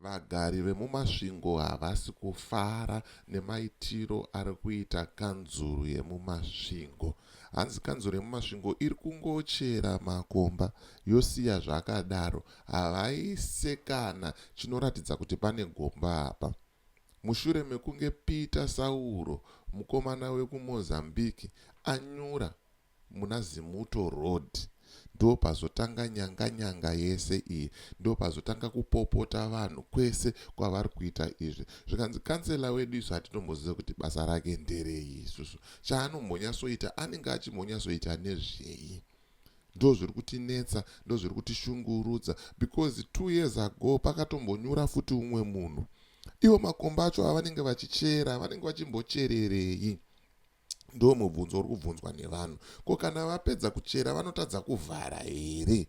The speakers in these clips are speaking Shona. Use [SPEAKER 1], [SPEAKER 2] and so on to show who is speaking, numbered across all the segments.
[SPEAKER 1] Vagari vemuMasvingo havasi kufara nemaitiro ari kuita kanzuru yemuMasvingo. Hanzi kanzuru yemuMasvingo iri kungochera makomba yosiya zvakadaro, havaise kana chinoratidza kuti pane gomba apa. mushure mekunge Peter Sauro, mukomana wekuMozambique, anyura muna Zimuto Road. Ndopazotanga nyanga nyanga yese iyi, ndopazotanga kupopota vanhu kwese kwavari kuita izvi. Zvikanzi kansela wedu isu hatitombozive kuti basa rake nderei isusu. Chaanombonyatsoita anenge achimbonyatsoita nezvei. ndo zviri kutinetsa ndo zviri kutishungurudza because two years ago pakatombonyura futi umwe munhu ivo makomba acho avanenge vachichera vanenge vachimbochererei ndo mubvunzo uri kubvunzwa nevanhu ko kana vapedza kuchera vanotadza kuvhara here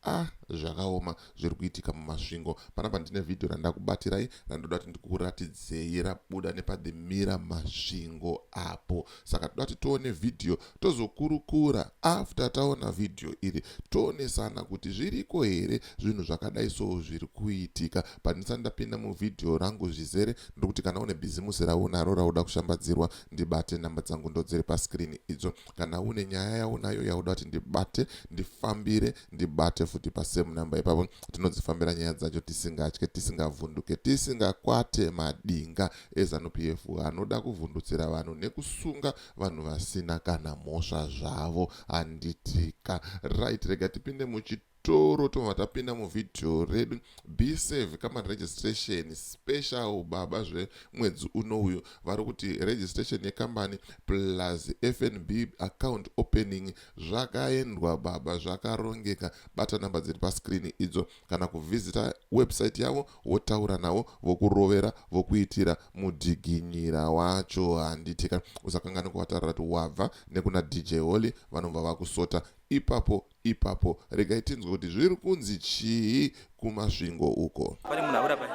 [SPEAKER 1] Ah zvakaoma zviri kuitika muMasvingo. Panapa ndine vhidhiyo randakubatirai randoda kuti ndikuratidzei rabuda nepathemira Masvingo apo. Saka toda kuti tione vhidhiyo tozokurukura after taona vhidhiyo iri toonesana kuti zviriko here zvinhu zvakadai soo zviri kuitika. Pandisa ndapinda muvhidhiyo rangu zvizere ndiri kuti kana une bhizimusi raunaro rauda kushambadzirwa ndibate nhamba dzangu ndodziri paskirini idzo. kana une nyaya yaunayo yauda kuti ndibate ndifambire ndibate futi pasame number ipapo tinodzifambira nyaya dzacho tisingatye tisingavhunduke tisingakwate madinga ezanup f anoda kuvhundutsira vanhu nekusunga vanhu vasina kana mhosva zvavo handitika right rega tipinde muchi toro tobva tapinda muvideo redu be save kama registration special baba zvemwedzi uno uyu vari kuti registration yekambani plus fnb account opening zvakaendwa baba zvakarongeka bata namba dziri pascreen idzo kana kuvhizita website yavo wotaura navo vokurovera vokuitira mudhiginyira wacho handitika usakanganwa kuvatarira kuti wabva nekuna dj holy vanobva vakusota ipapo Ipapo regai tinzwe kuti zviri kunzi chii kuMasvingo uko. Pane munhu abuda pai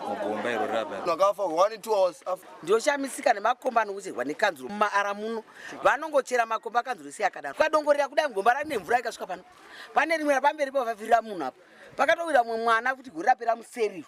[SPEAKER 2] mugomba iro raba. Vakafa one two hours
[SPEAKER 3] after. Ndioshamisika
[SPEAKER 4] nemakomba anocherwa nekanzuro mumaara muno. Vanongochera makomba kanzuro isi yakadaro. Kwadongorera kudai mugomba rane mvura ikasvika pano. Pane rimwe rapamberi pavavira munhu apa. Pakatowira mumwe mwana kuti gore rapera museriro.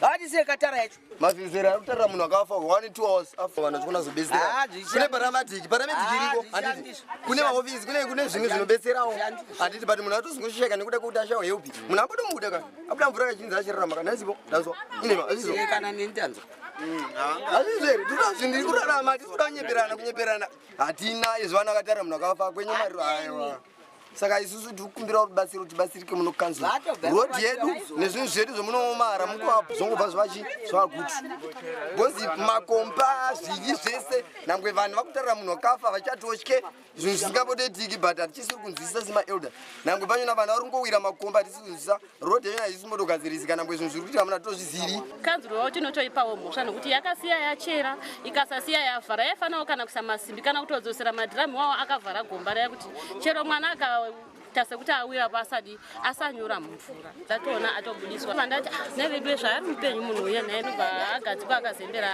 [SPEAKER 4] Haatisiye katara yacho. Mazinzera kutara munhu
[SPEAKER 3] akafa 1 2 hours afa vanhu chikona zobetsera. Ah, kune paramedic, paramedic ah, iriko. Anditi kune ma office, kune kune zvinhu zvinobetserawo. Anditi but munhu atozongosheka nekuda kwekuti ashawa help. Munhu abuda muda ka. Abuda mvura kachinzi achirarama kana isipo. Danzwa. Ine ma asizo. Kana nini danzwa. Azvizveri tinoda zvinhu iri kurarama tinoda kunyeperana kunyeperana. Hatina izvo vanhu vakatara munhu akafa kwenye mari ayo. saka isusu tiri kukumbirawo rubatsiro tibatsirike muno kanzuru rod yedu nezvinhu zvedu zvemunoomara mukuvapo zvongobva zvachi zvakuti bcozi makomba zvinyi zvese nangwe vanhu vakutarira munhu wakafa vachatotye zvinhu zvisingabotoitiki but hatichisiri kunzwisisa semaelder nangwe panyona vanhu vari kungowira makomba hatisi kunzwisisa road yenyu haisi motogadzirisi kana mbwe zvinhu zviri kuitika muna tozvizivi kanzuro yavo tinotoipawo
[SPEAKER 5] mhosva nokuti yakasiya yachera ikasasiya yavhara yaifanawo kana kuisa masimbi kana kutodzosera madhiramu iwawo akavhara gomba raya kuti chero mwana aka tase kuti awira pasadi asanyura mumvura dzatoona atobudiswa vandati ah, nevedue zvaari mupenyu munhu uye naye nobva agadzikwa akazembera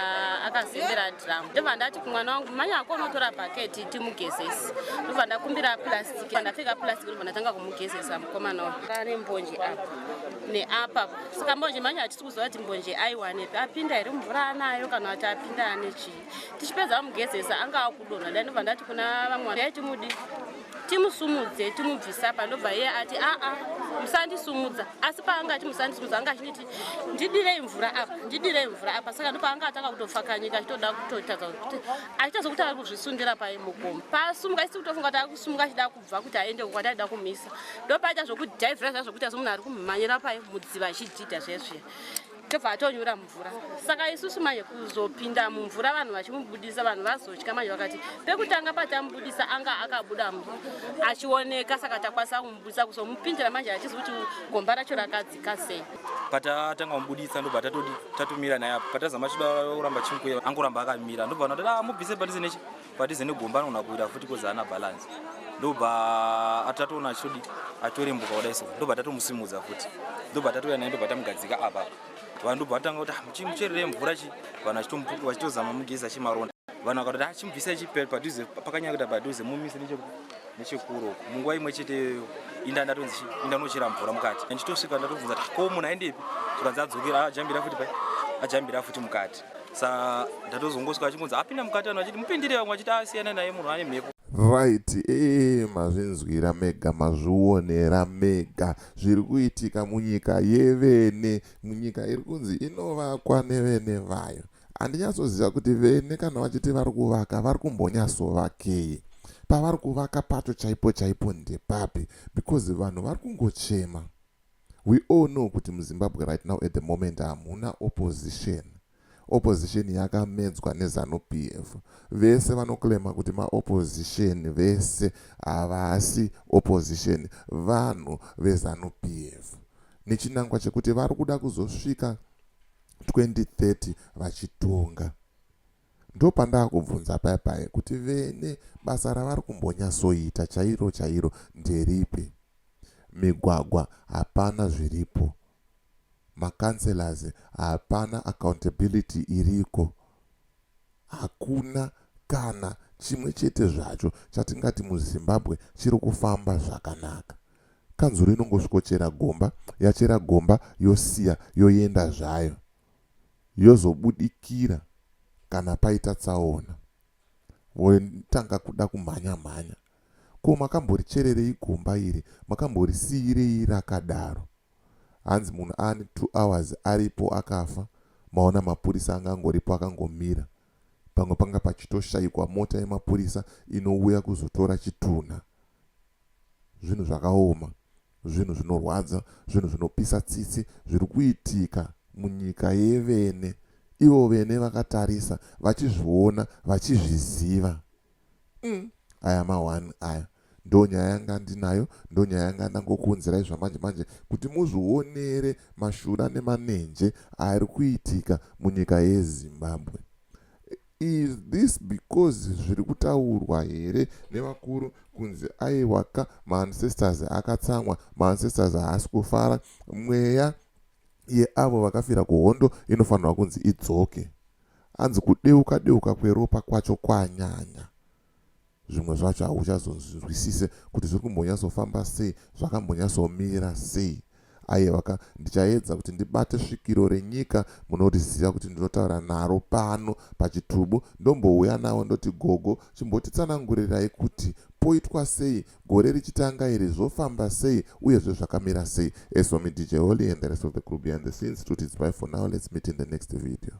[SPEAKER 5] akazembera dhiramu ndobva ndati kumwana wangu manya ako unotora bhaketi timugezesi ndobva ndakumbira plastic Pandapfeka plastic ndobva ndatanga kumugezesa mukomana uyu. Pane mbonje apa neapa. Saka mbonje manje hatisi kuziva kuti mbonje aiwanepi. Apinda here mvura anayo kana kuti apinda ane chii. Tichipedza kumugezesa anga akudonha dai ndobva ndati kuna vamwe dai timudi timusumudze timubvisa apa ndobva iye ati aa musandisumudza asi paanga ati musandisumudza anga achinditi ndidirei mvura apa ndidirei mvura apa saka ndopaanga atanga kutopfakanyika achitoda kutotadza kuti achitozo kuti ari kuzvisundira pai mugomo paasumuka isi kutofunga kuti ari kusumuka achida kubva kuti aende kukwati aida kumisa ndopaita zvokudhaivhira zva zvokuti asi munhu ari kumhanyira pai mudziva achidhidha zvesve tobva atonyura mvura saka isusu manje kuzopinda mumvura vanhu vachimubudisa vanhu vazotya manje vakati pekutanga patamubudisa anga akabuda achioneka saka takwanisa kumubudisa kuzomupindira manje achizi kuti gomba racho rakadzi zvamunobatsirika sei patatanga
[SPEAKER 2] kumubuditsa ndobva tatodi tatomira naye apo patazama chida kuramba chimukuya angoramba akamira ndobva anati ah mubvise padhize nechi padhize negomba anogona kuita futi kozi ana balance ndobva atatoona achitodi atorembuka kudai so ndobva tatomusimudza futi ndobva tatouya naye ndobva tamugadzika apa vanhu ndobva vatanga kuti ah, mucherere mvura chi vanhu vachitomupuka vachitozama mugezi achimaronda vanhu vakatoti achimubvisa ah, chipadhuze pakanyakita padhuze mumise nechokuti nechekuro uko munguva imwe chete iyoyo inda ndatonzi inda unochera mvura mukati ndichitosvika ndatobvunza kuti ko munhu aendepi zvikanzi adzokera ajambira futi pai ajambira futi mukati sa ndatozongosvika achingonzi apinda mukati ano achiti mupindire vamwe achiti asiyana naye munhu ane mhepo right ee
[SPEAKER 1] eh, mazvinzwira mega mazvionera mega zviri kuitika munyika yevene munyika iri kunzi inovakwa nevene vayo Handinyatsoziva kuti vene kana vachiti vari kuvaka vari kumbonyatsovakei. Pavari kuvaka pacho chaipo chaipo ndepapi because vanhu vari kungochema. We all know kuti muZimbabwe right now at the moment hamuna opposition. Opposition yakamedzwa neZanu PF. Vese vanoclaima kuti maopposition vese havasi opposition vanhu veZanu PF. Nechinangwa chekuti vari kuda kuzosvika 2030 vachitonga ndopandakubvunza paye paye kuti vene basa ravari kumbonyasoita chairo chairo nderipi migwagwa hapana zviripo macancelors hapana accountability iriko Hakuna kana chimwe chete zvacho chatingati muZimbabwe chiri kufamba zvakanaka. Kanzuru inongosvikochera gomba, yachera gomba yosiya yoenda zvayo, yozobudikira kana paita tsaona, votanga kuda kumhanya-mhanya Ko makamborichererei gomba iri makamborisiirei rakadaro hanzi munhu ane two hours aripo akafa maona mapurisa angangoripo akangomira pamwe panga pachitoshaikwa mota yemapurisa inouya kuzotora chitunha zvinhu zvakaoma zvinhu zvinorwadza zvinhu zvinopisa tsitsi zviri kuitika munyika yevene ivo vene vakatarisa vachizviona vachizviziva mm. aya mahwani aya ndo nyaya yanga ndinayo ndo nyaya yanga ndangokuunzirai zvamanje manje kuti muzvionere mashura nemanenje ari kuitika munyika yezimbabwe is this because zviri kutaurwa here nevakuru kunzi aiwaka maancestors akatsamwa maancestors haasi kufara mweya yeavo vakafira kuhondo inofanirwa kunzi idzoke Hanzi kudeuka deuka kweropa kwacho kwanyanya. Zvimwe zvacho hauchazonzwisise kuti zviri kumbonyatsofamba sei, zvakambonyatsomira sei. Aiyewaka, ndichaedza kuti ndibate svikiro renyika munoriziva kuti ndinotaura naro pano pachitubu, ndombouya nawo ndoti gogo chimbotitsanangurirai kuti poitwa sei Gore richitanga iri zvofamba sei uyezve zvakamira sei as for me DJ Holly and the rest of the crew behind the scenes tuti it's bye for now let's meet in the next video.